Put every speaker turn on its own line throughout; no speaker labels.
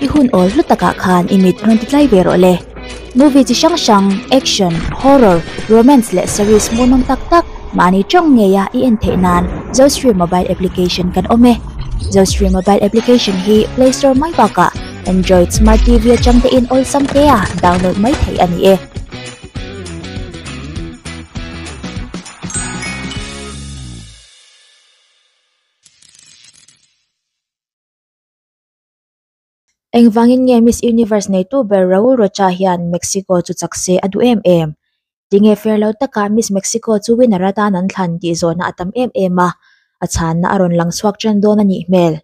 I hun awl hlu takah khan i mit rawn ti tlai ve rawh le. Movie chi hrang hrang, action, horror, romance leh series mawi mam tak tak mahni tawng ngeia i en theih nan Zostream mobile application kan awm e. Zostream mobile application hi play store mai bakah-- Android Smart TV atang te in awlsam te a download mai thei a ni e. Engvangin nge Miss Universe neitu ber Raul Rocha hian Mexico chu chak se a duh em em? Tinge fair lo taka Miss Mexico chu winner a tan an thlan tih zawhna a tam em em a, a chhanna a rawn lang chhuak ṭan dawn a nih hmel.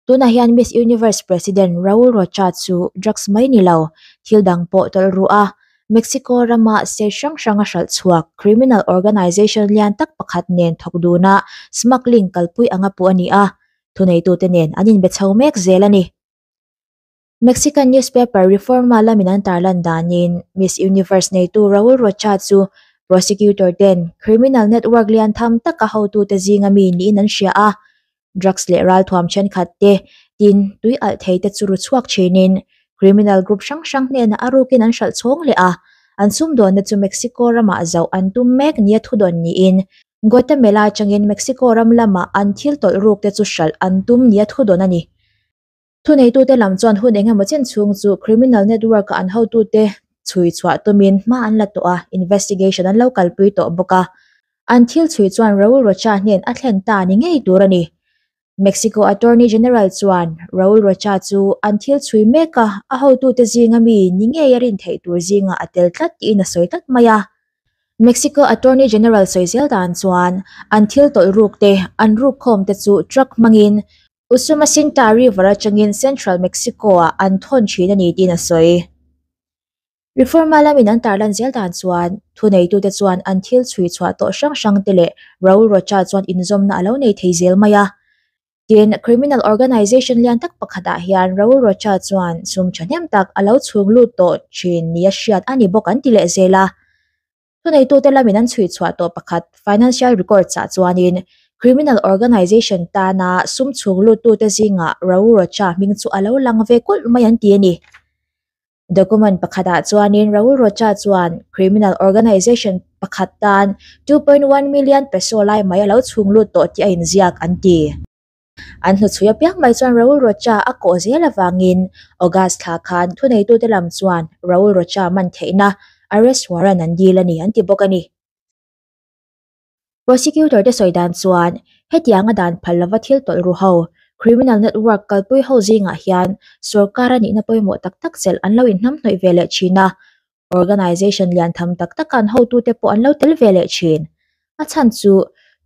Tunah hian Miss Universe President Raul Rocha chu drugs mai ni lo, thil dang pawh tawlh ruh a, Mexico rama se hrang hranga hralh chhuak, criminal organisation lian tak pakhat nen thawk duna smuggling kalpui anga pu a ni a, thuneitute nen an inbe chho mek zel a ni. Mexican newspaper Reforma lamin an tarlan danin Miss Universe neitu Raul Rocha chu prosecutor ten criminal network lian tham taka hotute zinga mi niin an hria a, drugs leh ralthuam thenkhat te, tin, tui alh thei te chu ru chhuak thinin criminal group hrang hrang hnena a rukin an hralh chhawng leh a. An sumdawnna chu Mexico ramah zauh an tum mek nia thudawn niin Guatemala atangin Mexico ram lamah an thil tawlh ruk te chu hralh an tum nia thudawn a ni. Thuneitute lam chuan hun eng emaw chen chhung chu criminal network a an hotute chhui chhuah tumin hma an la tawh a, investigation an lo kalpui tawh bawk a. An thil chhui chuan Raul Rocha hnen a thlen ta ni ngei tur a ni. Mexico Attorney General chuan Raul Rocha chu an thil chhui meka a hotute zinga mi ni ngei a rin theih tur zinga a tel tlat tiin a sawi tlat mai a. Mexico Attorney General sawi zel dan chuan an thil tawlhrukte an rukkhawmte chu truck hmangin Usuma Sinta River atangin Central Mexico-ah an thawn thin a ni tiin a sawi. Reforma lamin an tarlan zel dan chuan thuneitute chuan an thil chhui chhuah tawh hrang hrangte leh Raul Rocha chuan inzawmna a lo nei thei zel mai a. Tin, criminal organisation lian tak pakhatah hian Raul Rocha chuan sum thahnem tak a lo chhunglut tawh thin nia hriat a ni bawk an ti leh zel a. Thuneitute lamin an chhui chhuah tawh pakhat financial records ah chuanin Criminal Organisation tana sum chhung luttute zingah Rau Rocha hming chu a lo lang ve kulh mai an ti a ni. Document pakhatah chuanin Rau Rocha chuan Criminal Organisation pakhat tan two point one million peso lai mai a lo chhung lut tawh tih a inziak an ti. An hnuchhui apiang mai chuan Raul Rocha a kawh zel avangin August thla khan thuneitute lam chuan Raul Rocha man theihna arrest warrant an dil a ni an ti bawk a ni. Prosecutor te sawi dan chuan hetianga dan phal lova thil tawlh ru ho, criminal network kalpui ho zingah hian sorkara nihna pawimawh tak tak chelh an lo inhnamhnawih ve leh thin a, Organisation lian tham tak taka an hotu te pawh an lo tel ve leh thin. A chhan chu,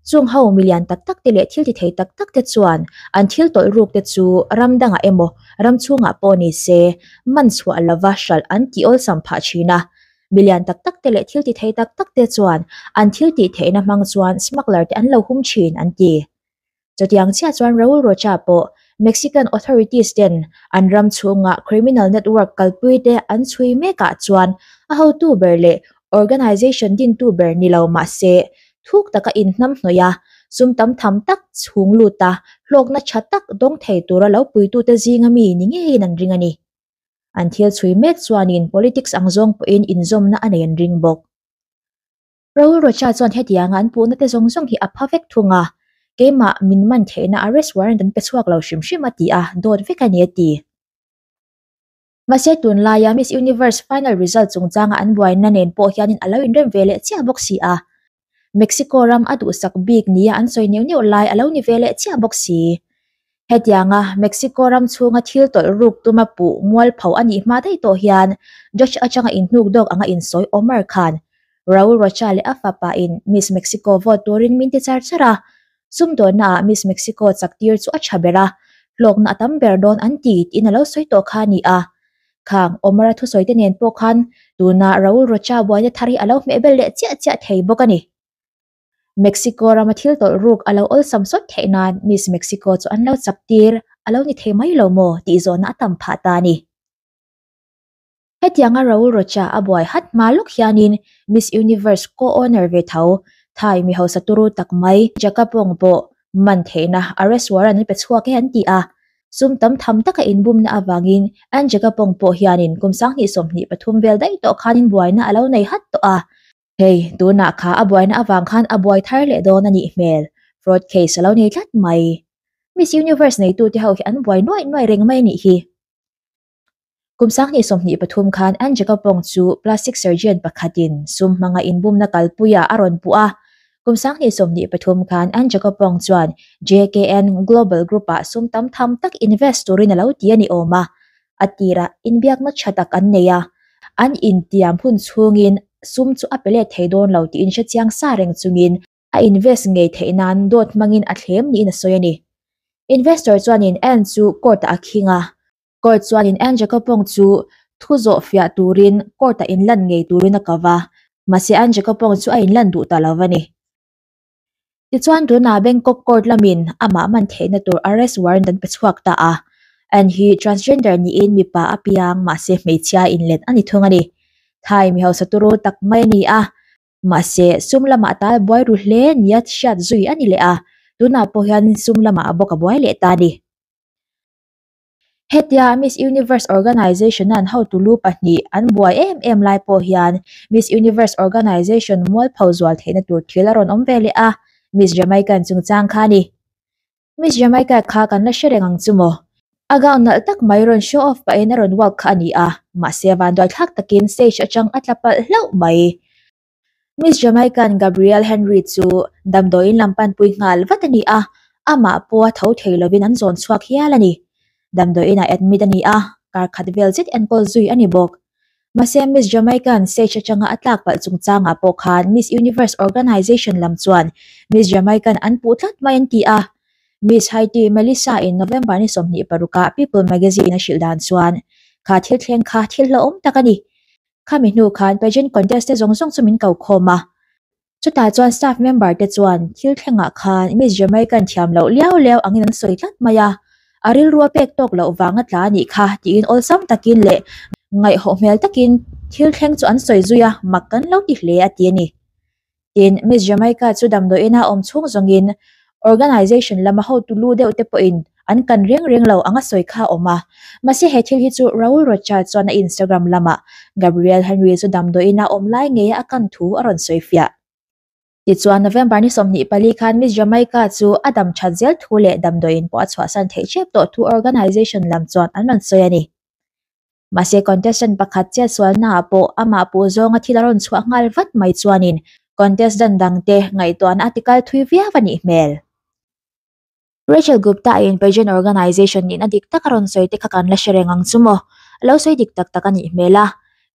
Chung ho mi lian tak tak te leh thil ti thei tak tak te chuan an thil tawlh ruk te chu ram dangah emaw, ram chhungah pawh ni se, man chhuah lova hralh an ti awlsam phah thin a. Mi lian tak tak te leh thil ti thei tak tak te chuan an thil tih theihna hmang chuan smuggler te an lo hum thin an ti. Chutiang chiah chuan Raul Rocha pawh Mexican authorities ten an ram chhungah criminal network kalpui te an chhui mek ah chuan a hotu ber leh organisation dintu ber ni lo mah se thuk tak a inhnam hnawih a sum tam tham tak chhung lut a hlawkna tha tak dawng thei tur a lo pui tu te zinga mi ni ngeiin an ring a ni. An thil chhui mek chuanin politics ang zawng pawhin inzawmna a nei an ring bawk. Rawlrocha chuan hetianga an puhna te zawng zawng hi a pha vek thung a, keimah min man theihna arrest warrant an pe chhuak lo hrim hrim a ti a, dawt vek a ni a ti. Mahse tun laia Miss Universe final result chungchanga an buaina nen pawh hianin a lo inrem ve leh chiah bawk si a, Mexico ram a duhsak bik nia an sawi neuh neuh lai a lo ni ve leh chiah bawk si. Hetianga Mexico ram chhunga thil tawlh ruk tuma pu Mualpho a nih hma daih tawh hian Judge atanga inhnuk dawk anga insawi Omar Khan, Raul Rocha leh a fapa in Miss Mexico vote turin min ti char char a. Sumdawnna ah Miss Mexico chak tir chu a tha ber a, hlawkna a tam ber dawn an ti tiin a lo sawi tawh kha a ni a. Khang, Omar-a thusawite nen pawh khan tuna Raul Rocha buaina thar hi a lo hmeh ber leh chiah chiah thei bawk a ni. Mexico rama thil tawlh ruk a lo awlsam sawt theih nan Miss Mexico chu an lo chap tir a lo ni thei mai lo maw tih zawhna a tam phah ta a ni. Hetianga Raul Rocha a buai hat hma lawk hianin Miss Universe co-owner ve tho, Thai mi hausa turu tak mai Jacapong pawh man theihna arrest warrant an pe chhuak e an ti a. Sum tam tham taka inbumna avangin Ann Jacapong pawh hianin kum sang hnih sawm hnih pathum vel daih tawh khanin buaina a lo nei hat tawh a. Hei, tunah kha a buaina avang khan a buai thar leh dawn a nih hmel. Fraud case a lo nei tlat mai. Miss Universe neitute ho hi an buai nuai nuai reng mai a nih hi. Kum Sanghnih sawmhnih pathum khan Angie Kaupawng chu plastic surgeon pakhatin sum hmanga inbumna kalpuia a rawn puh a. Kum Sanghnih sawmhnih pathum khan Angie Kaupawng chuan JKN Global Group-ah sum tam tham tak invest turin a lo ti a ni awm a. a tirah inbiak nachcha tak an nei a, an intiam hun chhungin sum chu a pe let thei dawn lo tiin hre chiang sa reng chungin a invest ngei theih nan dawt hmangin a thlem niin a sawi a ni. Investor chuanin Anne chu court ah a khing a, court chuanin Anne Jacopong chu thu zawh fiah turin court ah inlan ngei turin a kau va, mahse Anne Jacopong chu a inlan duh ta lo a ni. Tichuan, tunah Bangkok Court lamin amah man theihna tur arrest warrant an pe chhuak ta a. An hi transgender niin mipa a piang mahse hmeichhia inlet a ni thung a ni. Thai mi hausatu ru tak mai a ni a, mahse sum lamah ta buai ru hle nia hriat zui a ni leh a, tunah pawh hian sum lamah a bawk a buai leh ta a ni. Hetia Miss Universe Organisation-a an hotu lu pahnih an buai em em lai pawh hian Miss Universe Organisation mualpho zual theihna tur thil a rawn awm ve leh a, Miss Jamaica-in chungchang kha a ni. Miss Jamaica kha kan la hre reng ang chu maw? A gown nalh tak mai rawn show off pahin a rawn walk kha a ni a, mahse vanduai thlak takin stage atang a tla palh hlauh mai. Miss Jamaican Gabrielle Henry chu damdawiin lam panpui nghal vat a ni a, amah pawha tho thei lovin an zawn chhuak hial a ni. Damdawiinah admit a ni a, kar khat vel zet enkawl zui a ni bawk. Mahse, Miss Jamaican stage atanga a tlak palh chungchangah pawh khan Miss Universe Organisation lam chuan Miss Jamaican an puh tlat mai an ti a. Miss Haiti Melissa-in November ni sawmhnih parukah People Magazine-a hrilh dan chuan, Kha thil thleng kha thil hlauhawm tak a ni. khami hnu khan pageant contest te zawng zawng chu min kokhawm a chutah chuan staff member te chuan thil thlengah khan miss jamaica an thiam loh liau liau angin an sawi tlat mai a a rilrua pek tawk loh vanga tla a nih kha tiin awlsam takin leh ngaihawh hmel takin thil thleng chu an sawi zui a mak kan lo ti hle a ti a ni. tin, Miss Jamaica chu damdawiina awm chhung zawngin organisation lama hotu lu deuh te pawhin an kan reng reng lo anga sawi kha a awm a. Mahse he thil hi chu Raul Rocha chuan a Instagram lama Gabrielle Henry chu damdawiina awm lai ngeia a kan thu a rawn sawi fiah. Tichuan, November ni sawmhnih pali khan Miss Jamaica chu a dam that zel thu leh damdawiin pawh a chhuahsan theih chiah tawh thu organisation lam chuan an rawn sawi a ni. Mahse contestant pakhat chetsualnaah pawh amah puh zawnga thil a rawn chhuah nghal vat mai chuanin contestant dangte ngaihtuahna a ti kal thui viau a nih hmel. Rachel Gupta-in pageant organisation nihna dik tak a rawn sawi te kha kan la hre reng ang chu maw? A lo sawi dik tak tak a nih hmel a.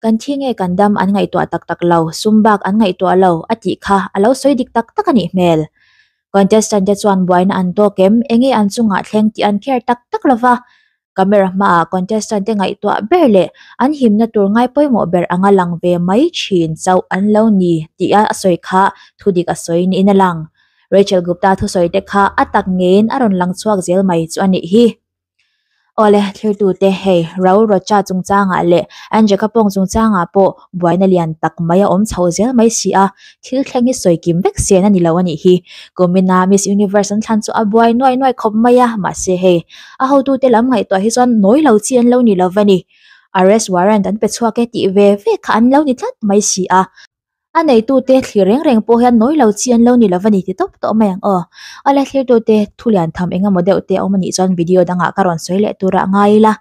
Kan thi nge kan dam an ngaihtuah tak tak lo, sum bak an ngaihtuah lo a tih kha a lo sawi dik tak tak a nih hmel. Contestant te chuan buaina an tawk em, enge an chungah thleng tih an care tak tak lo va, camera hmaah contestant te ngaihtuah ber leh an himna tur ngai pawimawh ber anga lang ve mai thin chauh an lo ni tih a sawi kha thu dik a sawi niin a lang. Rachel Gupta thusawi te kha a tak ngeiin a rawn lang chhuak zel mai chu a nih hi. Awle thlir tute hei Rao Rocha chungchangah leh Angeka Pawng chungchangah pawh buaina lian tak mai a awm chhoh zel mai si a, thil thleng hi sawi kim vek sian a ni lo a nih hi. Kumina Miss Universe an thlan chu a buai nuai nuai khawp mai a, mahse hei a hotute lam ngaihtuah hi chuan nawi lo chi an lo ni lova ni. Arrest warrant an pe chhuak e tih ve ve kha an lo ni tlat mai si a, a neitute thlir reng reng pawh hian nawi lo chi an lo ni lova ni ti tawp tawp mai ang aw. A la thlir tute thulian tham engemaw deuh te a awm a nih chuan video dangah ka rawn sawi leh tura a ngai ila.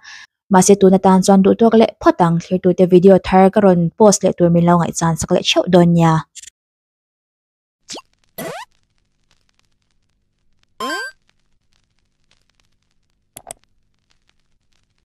mahse tun atan chuan duhthawk leh phawt ang thirtute video thar ka rawn post leh tur min lo ngaihchhan sak leh theuh dawn nia.